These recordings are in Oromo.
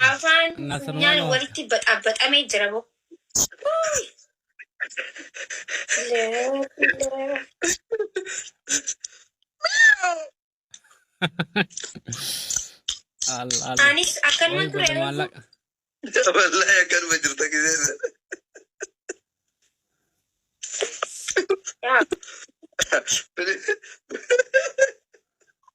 Afaan funyaan walitti baxabaxamee jira bo. Uuy. Anis akkanuma ture reefu. Wallahi akkanuma jirta gisee. Yaa.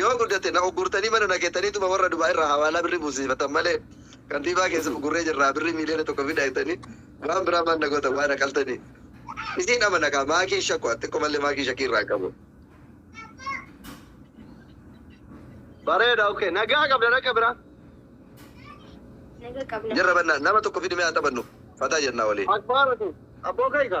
Yoo guddate na uggurtanii mana na keetaniituma warra Dubaay irraa hawaalaa birrii buusiifatan malee kantiibaa keessan uggurree jirraa birrii miiliyoona tokko fida jettanii waan biraa maal na gootan waa na qaltanii. Isiin amana kaa maakiin shakku ati xiqqoo mallee maakii shakkii irraa hin qabu. Bareeda okay. Nagaa qabda rakka biraa. Naga qabna. Jirra bannaa nama tokko fidimee haa taphannu fataa jennaa waliin. Akbaaratu. Abboo kayka.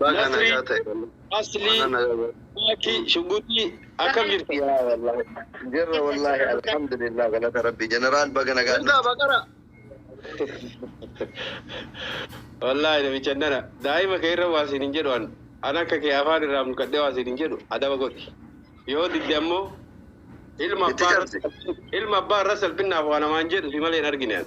Baga Nasri, nagaa ta'e. Asli, Mana nagaa ta'e. Maki, Shuguti, akkam jirtu? Yaa wallahi. Jirra wallahi alhamdulillah galata rabbi. Jeneraal baga nagaa Jirtaa dhufte. baqara. Wallaahi namicha nana daa'ima kee irra waa siin hin jedhu an an akka kee afaan irraa mulqadhee waa siin hin jedhu adaba godhi yoo didde ammoo ilma Itti abbaa irra cabsi. ilma abbaa irra salphinnaaf waa namaan jedhu si malee hin argine an.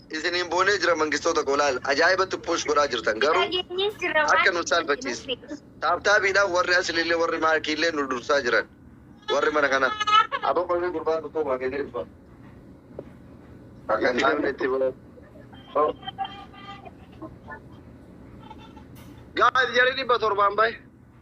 isiniin boonee jira mangistoota koo laal ajaa'ibatti push godhaa jirtan garuu akka nu saalfachiisu taaptaabiidhaan warri asliillee warri maakiillee nu dursaa jiran warri mana kana aboo kolfee gurbaan tokko waa kennee dhufa akka naan itti boo gaa'el jarii dhibba torbaan bahe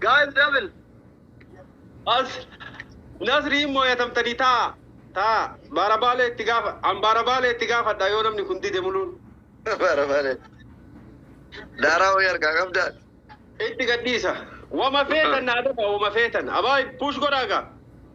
Guys double. As Nasri hin mooyatamtanii taa taa baara baalee itti gaafa an baara baalee itti gaafadha yoo namni kun dide muluun Bara bara. Daaraa wayii argaa qabdaan. itti gadhiisa. Wama feetan naa dafa wama feetan. Abaa push godhaaga.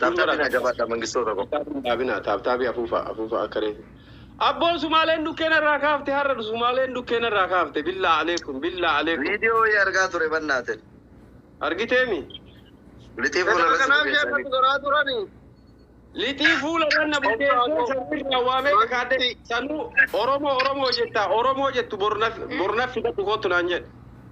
Taaptaapii naa jabaadhaa Mangistoo tokko. Taaptaabii hin dhaabinaa taaptaabii afuufaa afuufaa akka reefu. Abboo sumaaleen dhukkee narraa kaafte har'a sumaaleen dhukkee narraa kaafte billaa aleekum billaa aleekum. Video wayii argaa ture bannaaten. Argitee mi? Lixii fuula Ganama irratti kanaaf bukeessanii. sheekatu garaa turani. Lixii fuula irra na bukeessee sanuu irraa waamee kakaadde sanuu Oromoo Oromoo jettaa Oromoo jettu bornaf bornaf fidadhu kottu naan jedhe.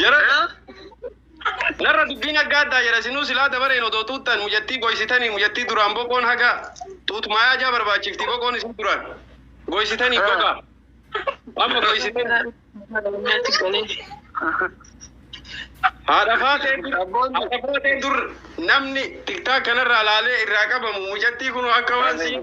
Jara narra dubbiin aggaa addaa jira sinuu silaa dabareen odoo tuuttan mucattii goysitanii mucattii duraan boqoon haga tuutmaayaa jaa barbaachifti boqoon isin duraan goysitanii gogaa amma goysitanii Natti galee. haadha faatee dur haadha faatee dur namni tiktaa kanarraa laalee irraa qabamu mucattii kun akka waan siin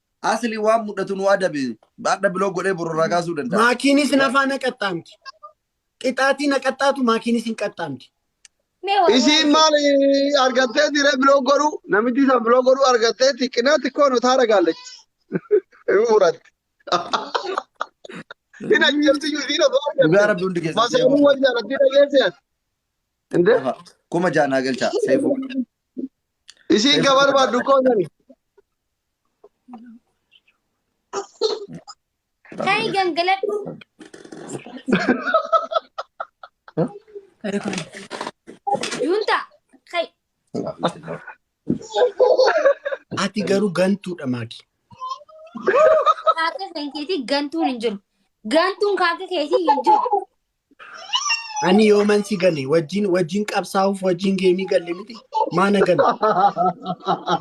Asli waan mudhatu nu adabe. Baadha biloo godhee boru irraa kaasuu danda'a. Maakiinis hin afaa na qaxxaamti. Qixaatii na qaxxaatu maakiinis hin qaxxaamti. Mee waa- Isiin waa- maal argattee diree biloo godhu namichi san biloo godhu argattee xiqqinaa xiqqoo nu taara gaallachi. Hin furatti. Hin ajjeefti iyyuu isiin osoo Dhugaa argatte. rabbi hundi keessatti. Masaanuu wal jaalatti dhageesse ati. Inde? Lafa kuma ja'a naa galchaa seefuu. Isiin ka barbaaddu koo sani. Kai gangaladhu. Junta. Kai. Ati garuu gantuudha maaki. Kaaka kan keetii gantuun hin jiru. Gantuun kaaka keetii hin jiru. Ani yooman si gane wajjin wajjin qabsaa'uuf wajjin geemii galle miti maana gale.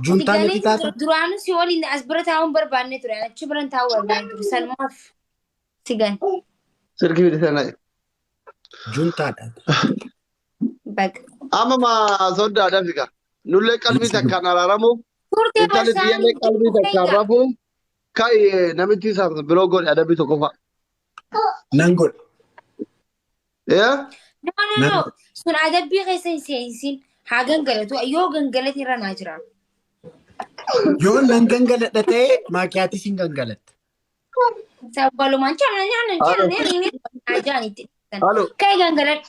Juntaa Galee natti taata. duraanuu si waliin as bira taa'uun barbaanne ture. Achi biran taa'uu barbaanne ture. Sanumaaf si gane. Sirki fide sana. Juntaadha. Baga. Amma ma sooddaa dafika. Nullee qalbii takkaan araaramuuf Turte intalli barsaanii. xiyyaallee qalbii takkaan rafuuf ka'i namichi isaaf biroo godhe adabbii tokkoffaa. Nan godha. Yaa? No, no, Nan- no. Sun adabbii keessa hin seensin. Haa gangalatu. Yoo gangalate irra naa jira. Yoo nan gangaladha ta'e maakiyaatis hin gangalatta. Sabbalumaan chala nyaanna chala nyaanna ajaan itti dhiisan. Halo. Ka'e gangaladha.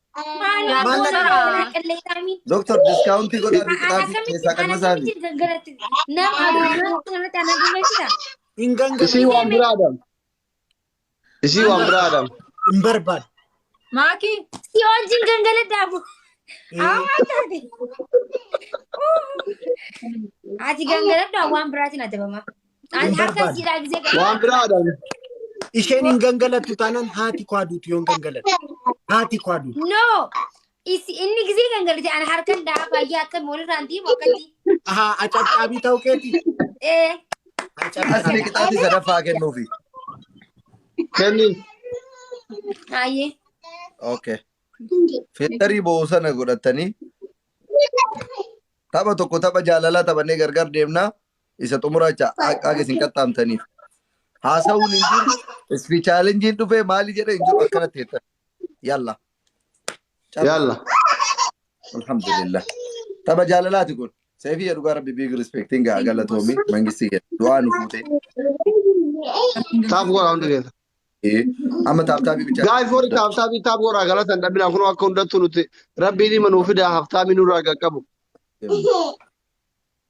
Maaliif Maal goona naqaa? goona qilleensaamin? Doktor diskaawuntii godhaa fi qixaasii Akkamitti keessaa kan masaa fi akkamitti galgalatti nama addunyaa kanarratti ana galmeessita? Hin gangalu. Isii waan biraa adam. Isii waan biraa adam. Hin barbaadu. Maakii. Si wajjin gangaladhaabu. Amma taate. Ati gangaladhaa waan biraatiin adabama. Ani Hin harka barbaadu. jiraa gisee gadi. Waan biraadhaan isheen hin gangalattu taanaan haati koo aduutu yoon gangalattu. Haati koo aduutu. No. Isi inni gisee gangalite ani harkan daa baay'ee akka moolirraan diimu akkatti. Ahaa acabcaabii ta'uu keeti. Eh. Asli Acabcaabii. qixaatii sadaffaa kennuufi. Kenniin. Haayee. Okay. Filtarii boo'u sana godhattanii tapha tokko tapha jaalalaa taphannee gargar deemnaa isa xumuraa jecha haqa isin qaxxaamtaniif haasa'uun hin jiru isfi chaalenjiin dhufee maali jedhe hin jiru akkanatti jettan yalla carra Yalla. alhamdulillah tapha jaalalaati kun seefii dhugaa rabbi biig rispektiin gaa galatoomi mangistii kee du'aa nu fuutee Taaf goraa hundi keessa. Ee, amma taaptaabii bichaa Gaa'if warri taaptaabii taaf goraa galatan dhabinaa kunoo akka hundattuu nuti rabbiin hima nuu fidaa haftaamii nurraa qaqqabu.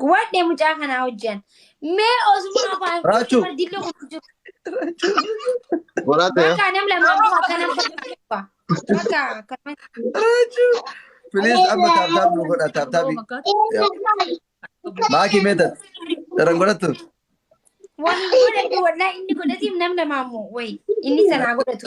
Guwadhe mucaa kanaa hojjan. Mee osuma afaan Raachu. kee bardillee kun jiru. Godhaate Bakka nam lamaan kun akka nam sadii qaba. Bakka akkana. Raachu. Please amma taaptaap nu godha taaptaapi. Maaki meetat. Dharan godhattu. Wani godhatu wallahi inni godhatiif nam lamaan moo wayi inni sanaa godhatu.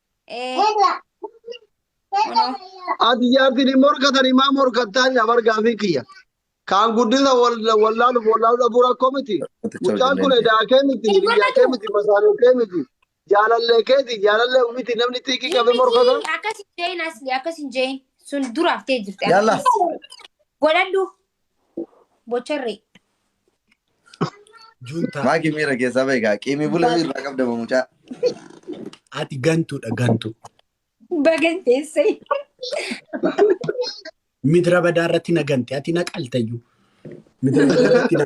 Ee, kunoo. Ati jaartiin hin morkatanii maa morkattaa jedha bargaa fi kiyya. Kaan guddisa wallaaluuf wallaaluu dhabuu rakkoo miti. Mucaan kun edaa kee miti, biyyaa kee miti, masaanuu kee miti. Jaalallee keeti, jaalallee miti namni xiiqii qabee morkata. Akkas hin jeeyin asli, akkas hin jeeyin. Sun dura haftee jirti. Yalla. Godhadhu. Bocharree. Juntaa. Maaki miira keessaa bahe kaa qiimii bula irraa qabda moo mucaa. Ati gantuudha gantuu. Bagan teessee. Midra badaa irratti na gante ati na qaltayyuu. Midra badaa irratti na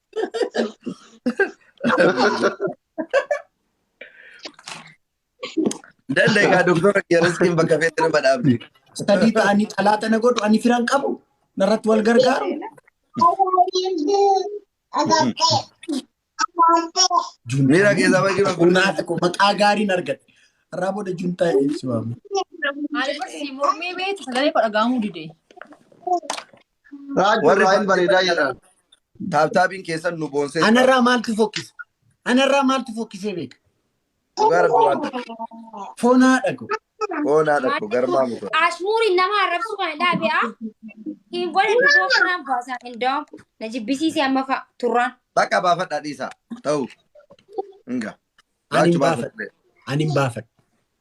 Danda'e kaa doktora Kiyarastiin bakka feetti nama dhaabde. Sadii ta'anii calaa tana godhu ani firan qabu narratti wal gargaaru. Miira keessaa baay'ee bakkuu. Bunaa tokko maqaa gaariin argate. Irraa booda juntaa ibsu waamu. Ani barsi mormii beektu sagalee koo dhagahamuu dide. Raajuu Warri Ibraahim bakkee bareedaa bakkee jedhan. taaptaabiin keessan nu boonsee jira. Anarraa maaltu fokkise? Anarraa maaltu fokkisee beeka? Dhugaa rabbi waan ta'e. Fonaa dhago. Foonaa dhaqu garmaa mutu. Ashmuuri nama arrabsu kana dhaabe a hin godhan dhiboo kanaan baasaa indoo na jibbisiise amma fa'a turraan. Bakka baafadhaa dhiisaa. Ta'u. Inga. Ani hin Baachu baafadhu. baafadhu. Ani hin baafadhu.